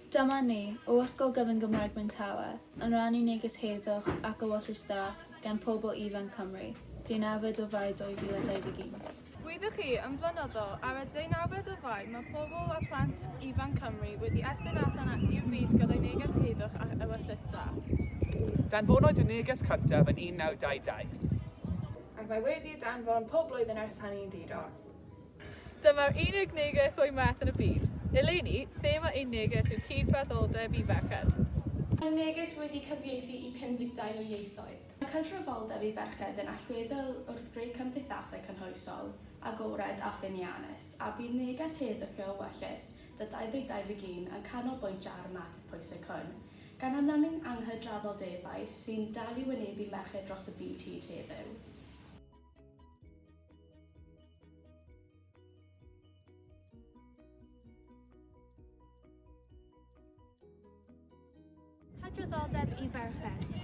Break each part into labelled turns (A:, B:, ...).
A: Dyma ni, o Ysgol Gyfun Gymraeg Myntawe, yn rannu neges heddwch ac ewyllys da gan pobl ifanc Cymru, deunawfed o Fai 2021. Rydych chi
B: yn flynyddol, ar y deunawfed o Fai mae pobl a phlant ifanc Cymru wedi estyn allan i'r byd gyda'i neges heddwch ac ewyllys da.
C: Danfonwyd y neges cyntaf yn 1922. Ac mae
D: wedi danfon pob blwyddyn ers hynny yn ddi-dor. Dyma'r
B: unig neges o'i math yn y byd. Eleni, thema ein neges yw cyd-fratholdeb i ferched. Mae'r neges
E: wedi cyfieithu i 52 o ieithoedd. Mae cydraddoldeb i ferched yn allweddol wrth greu cymdeithasau cynhwysol, agored a ffyniannus, a bydd neges Heather Ceo Wellus, da 2021, yn canolbwyntio ar y mater pwysig hwn. Gan amlynu anghydraddoldebau sy'n dal i wynebu merched dros y byd hyd heddiw,
F: Hydraddoldeb i ferched.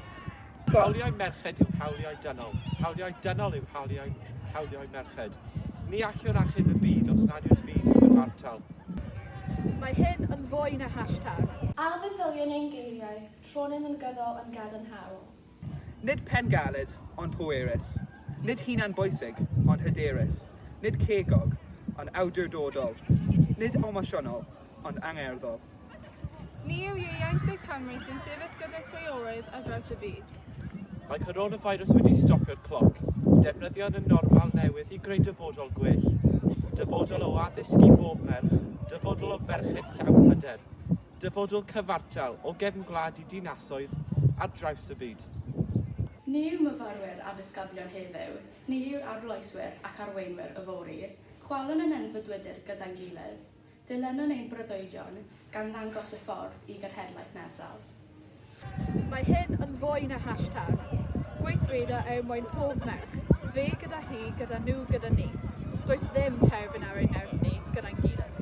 F: Hawliau
C: merched yw hawliau dynol. Hawliau dynol yw hawliau, hawliau merched. Ni allwn achub y byd os nad yw'r byd yn gyfartal.
B: Mae hyn yn fwy na hashtag. Alfeddyliwn
E: ein geiriau, tronym yn gyddol yn gadarnhaol. Nid
C: pen galed, ond pwerus. Nid hunan bwysig, ond hyderus. Nid cegog, ond awdurdodol. Nid emosiynol, ond angerddol. Ni
B: yw ieuenctid Cymru sy'n sefyll gyda chwiorydd ar draws y byd. Mae
C: coronavirus wedi stopio'r cloc. Defnyddion y normal newydd i greu dyfodol gwell. Dyfodol o addysg i bob merch. Dyfodol o ferched llawn hyder. Dyfodol cyfartal o gefn gwlad i dinasoedd ar draws y byd. Ni yw
E: myfyrwyr a disgyblion heddiw, ni yw'r arloeswyr ac arweinwyr yfory, chwalwn yn enfudwydyr gyda'n gilydd. Dilynwn ein breuddwydion, gan ddangos y ffordd i genhedlaeth nesaf.
B: Mae hyn yn fwy na hashtag. Gweithredo er mwyn pob merch, fe gyda hi, gyda nhw, gyda ni. Does ddim terfyn ar ein nerth ni, gyda'n gilydd.